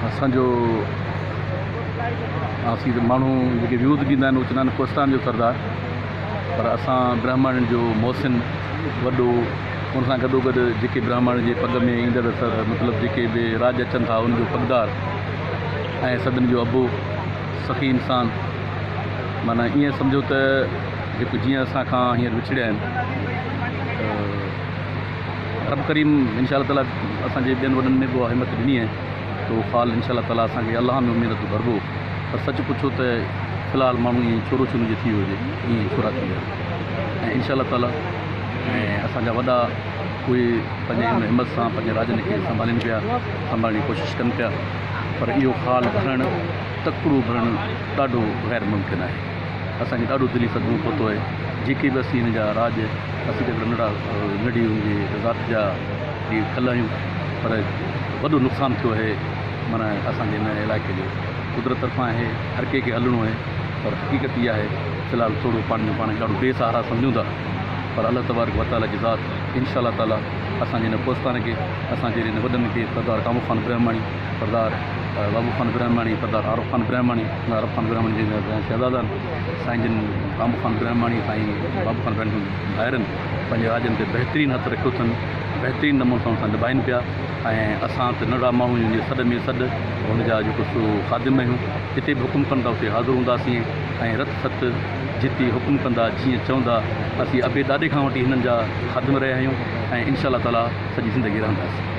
اسان جو آسين ته ماڻهو جيڪي ويوز ڏيندا آهن اهي چوندا آهن ڪوهستان جو سردار پر اسان برهمڻ جو محسن وڏو ان سان گڏوگڏ جيڪي برهمڻ جي پڳ ۾ ايندڙ مطلب جيڪي به راڄ اچن ٿا ان جو پڳدار ۽ سڀني جو ابو سخي انسان معنيٰ ائين سمجهو ته جيڪو جيئن اسان کان هينئر وڇڙيا آهن رب ڪريم انشاء الله تعالي اسان جي ٻين وڏن ۾ به اها همت ڏني آهي ته اهو فال انشاء الله تعالي اسان کي الله ۾ اميد ته ڀربو پر سچ پڇو ته في الحال ماڻهو ائين ڇورو ڇورين جو ٿي ويو هجي ائين ڇورا ٿي ويا ۽ انشاء الله تعالي ۽ اسان جا وڏا اهي پنهنجي ان همت سان پنهنجي راڄن کي سنڀالين پيا سنڀالڻ جي ڪوشش ڪن پيا پر اهو فال ڀرڻ تڪڙو ڀرڻ ڏاڍو غير ممڪن آهي اسان کي ڏاڍو دلي صدمو پهتو آهي جيڪي به اسين هن جا راڄ اسين ته ننڍڙا ننڍي هن جي ذات جا جي کل آهيون پر وڏو نقصان ٿيو آهي معنيٰ اسان جي هن علائقي جو قدرت طرفان آهي هر ڪنهن کي هلڻو آهي پر حقيقت اها آهي في الحال سوڙهو پاڻي جو پاڻ کي ڏاڍو بي سهارا سمجهون ٿا پر الله تبارڪ وتعاليٰ جي ذات انشاء الله تعاليٰ اسان جي هن ڪوستان کي اسان جي هن وڏن کي سردار ڪامو خان برهماڻي سردار بابو خان برهماڻي، سردار عارف خان برهماڻي، سردار عارف خان برهماڻي جي شهزادن سائين جن بابو خان برهماڻي سائين بابو خان برهماڻي جن ڀائرن پنهنجي راڄن تي بهترين هٿ رکيو اٿن، بهترين نموني سان سان نڀائن پيا ۽ اسان ته ننڍڙا ماڻهو آهيون جي سڏ ۾ سڏ هن جا جيڪو سو خادم آهيون، جتي به حڪم ڪن ٿا اتي حاضر هونداسين ۽ رت ست جتي حڪم ڪندا جيئن چوندا اسين ابي ڏاڏي کان وٺي هنن جا خادم رهيا آهيون ۽ انشاء الله تعاليٰ سڄي زندگي رهنداسين.